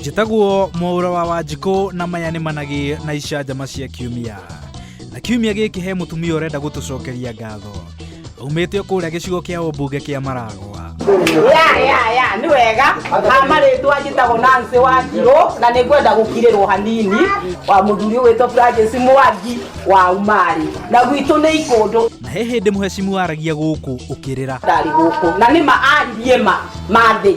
njĩtagwo mwaũra wa wanjikũ na maya nĩ managĩ na icanjama cia kiumia na kiumia gĩkĩ he mũtumia ũrenda gũtũcokeria ngatho aumĩte kũrĩa gĩcigo kĩa ũmbunge kĩa maragwa ya ya ya nĩ wega hamarĩtwa njĩtagwo nancy wa njirũ na nĩ ngwenda gũkirĩrwo hanini wa mũthuri ũgwĩtwo francis mwangi wa umarĩ na gwitũ nĩ ikũndũ na he hĩndĩ mũhecimu waragia gũkũ ũkĩrĩra ndarĩ gũkũ na nĩma aririe ma mathĩi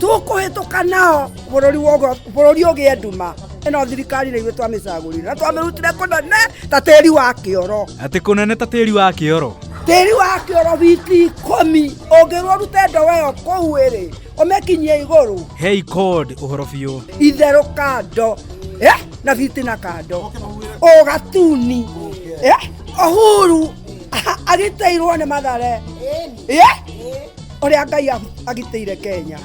tũkũhĩtũka nao bũrũri wogo- bũrũri ũgĩe nduma ĩno thirikari nĩ ithuĩ twamĩcagũrire na twamĩrutire kũnene ta tĩri wa kĩoro atä kå nene ta tä ri wa kä oro tĩri wa kĩoro biti ikũmi ũngĩrwo rute ndogo ĩyo kũu ĩrĩ ũmĩkinyie igũrũ hei code å horo biå itherũ kando eh, na biti na kando ũgatuni eh, ũhuru agĩteirwo nĩ mathare eh, ũrĩa ngai agitĩire kenya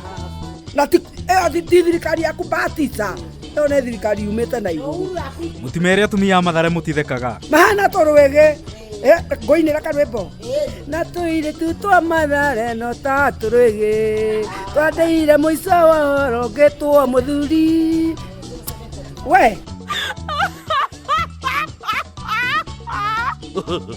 na ĩyo ti thirikari yaku batisa ĩyo nĩ thirikari yumĩte na igũrũ mũtimere atumia mathare mũtithekaga mahana tũrwĩgĩ ngoinĩra karwĩmbo na tũirĩ tu twa mathare no ta tũrwĩgĩ twandeire mũico wa ũhoro ngĩtwo mũthuri we